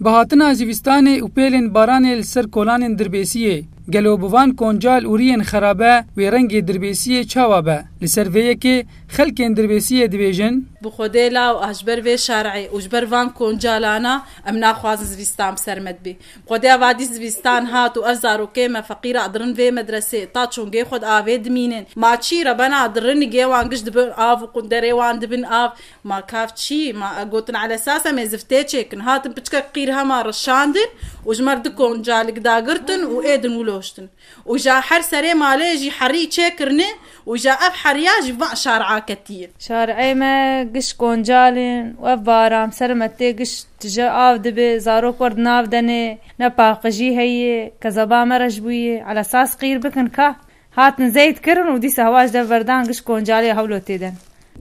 Bi hatina zivistanê û pêlên baranê li ser kolanên Dirbêsiyê, gelo bi van koncal û riyên xerabe wê rengê Dirbêsiyê çawa be? Li ser vê yekê xelkên Dirbêsiyê dibêjin. Bi xwedê law a ji ber vê şerê û ji ber van koncalan a em naxwazin zivistan bi ser me dibe. Bi xwedê a vadî zivistan hat û ev zarokê me feqîr a dirin vê medresê ta çûn gê xwe di avê dimînin. Ma çî re bena dirin gê wan giş dibin av û qunderê wan dibin av. Ma kav çi? Ma e gotin elesas em ê ziftê çêkin. Hatin piçikek qîr hema rişandin û ji mer du koncalik dagirtin û êdin wiloştin. Û ja her serê malê jî herî çêkirine û ja ev heriya ji van şar'a ketiye. Şar'ê me giş koncalin û ev baram ser me tê giş tije av dibe, zarok wer di nav de ne, ne paqijî heye, kezeba me rej bûye, elesas qîr bikin ka. Hatin zeyt kirin û dîsa hewa ji dev verdan giş Koncalê ya Hewlotê de.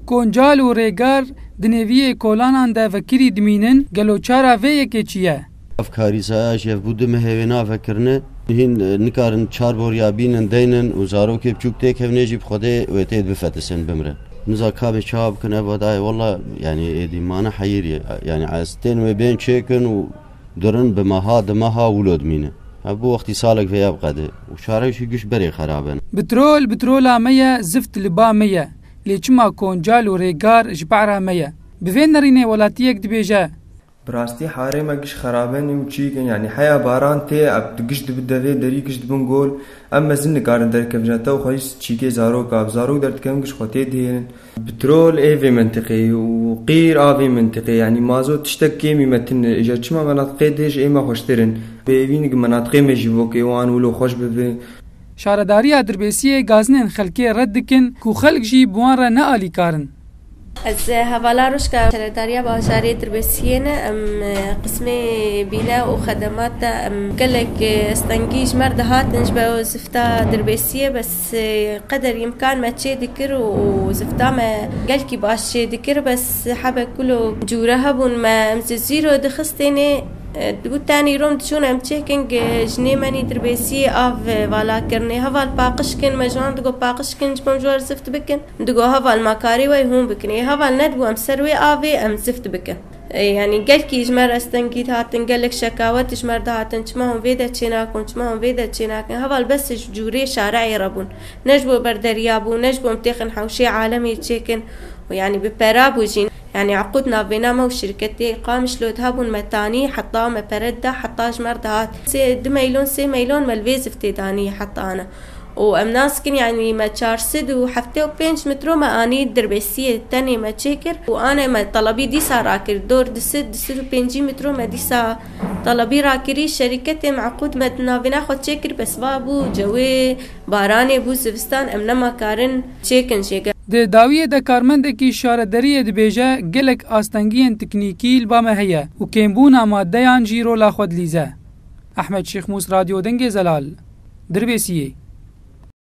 Koncal û Rêgar di nêviyê kolanan de vekirî dimînin, gelo çara vê yekê çi ye? Ev karîsaya jî ev bû di mehê wê nave kirine. Hîn nikarin çar boriya bînin deynin û zarokê biçûk têkevine jî bi Xwedê wê tê bifetisin bimrin. Niza kabê çawa bikin ev va dayê walla yanî êdî mane heyîrî yanî ez tên wê bên çêkin û Durin bi meha di meha wilo dimîne. Ev bo wextî salek vêya bi qedê û çare jî giş berê xerab in. Bitrol bitrola me ye, zift li ba me ye, lê çima koncal û rêgar ji para me ye? Bi vê nerînê welatiyek dibêje. Bi rastî harê me giş xerab in û çîyik in. Yanî heya baran tê, ev giş dibi devê, derî giş dibin gol. Em mezin nikarin derkevin ji te û xwe jî çîyikê zarok a. Bi zarok derdikevin giş xwe tê dihêlin. Pitrol ê vê mintiqê û qîr a vê mintiqê yanî mazot tiştek kêmî metin e. Îja çima menatiqê dê ji ême xweştir in. Pêvîn ki menatiqê me jî bo kê wan wilo xweş bibe. Şaredariya Dirbêsiyê gazinên xelkê red dikin ku xelk jî bi wan re ne alîkar in. Ez hevala Ruşka Şaredariya Bajarê Dirbêsiyê ne, em qismê bîne û xedemat de em gelek stengî ji me re dihatin ji ber zifta dirbêsiyê bes Ti qeder îmkan me çê dikir û zifta me gelkî baş çê dikir bes hebe kulo cûre hebûn me em ji zîro dixistêne dibû tenî rom diçûn em çêkin jinê me nî dirbêsiyê av vala kirine heval paqij kin me ji wan digot paqij kin ji bo em ji war zift bikin digot heval ma karê we yê hûn bikin ê heval nedibû em ser wê avê em zift bikin. Yanî gelkî ji me restengî dihatin, gelek şekawet ji me re dihatin, çima hûn vê de çênakin, çima hûn vê de çênakin. Heval bes ji cûrê şareeyê re bûn. Ne ji bo ber derya bû, ne ji bo em têxin hewşê alemê çêkin û yanî bi pera bû jî. Yanî eqûd navbêna me û şirketê Qamişlot hebûn me tanî heta me pere dida heta ji me re dihat. Sê du meylon, sê meylon me li vê ziftê danî heta ana. û em naskin yanî me çar sed û heftê û pênc mitro me anî dirbêsiyê tenê me çêkir û anê me telebî dîsa rakir dor di sed di sed û pêncî mitro me dîsa telebî rakirî şerîketê meqûd me di navîna xwe çêkir be siva bû cewê baranê bû zivistan em nema karin çêkin jê Di dawiyê de karmendekî şarederiyê dibêje gelek astengiyên teknîkî li ba me heye û kêmbûna madeyan jî rola xwe dilîze. Ehmed Şêxmûs Radyo Dengê Zelal, Dirbêsiyê.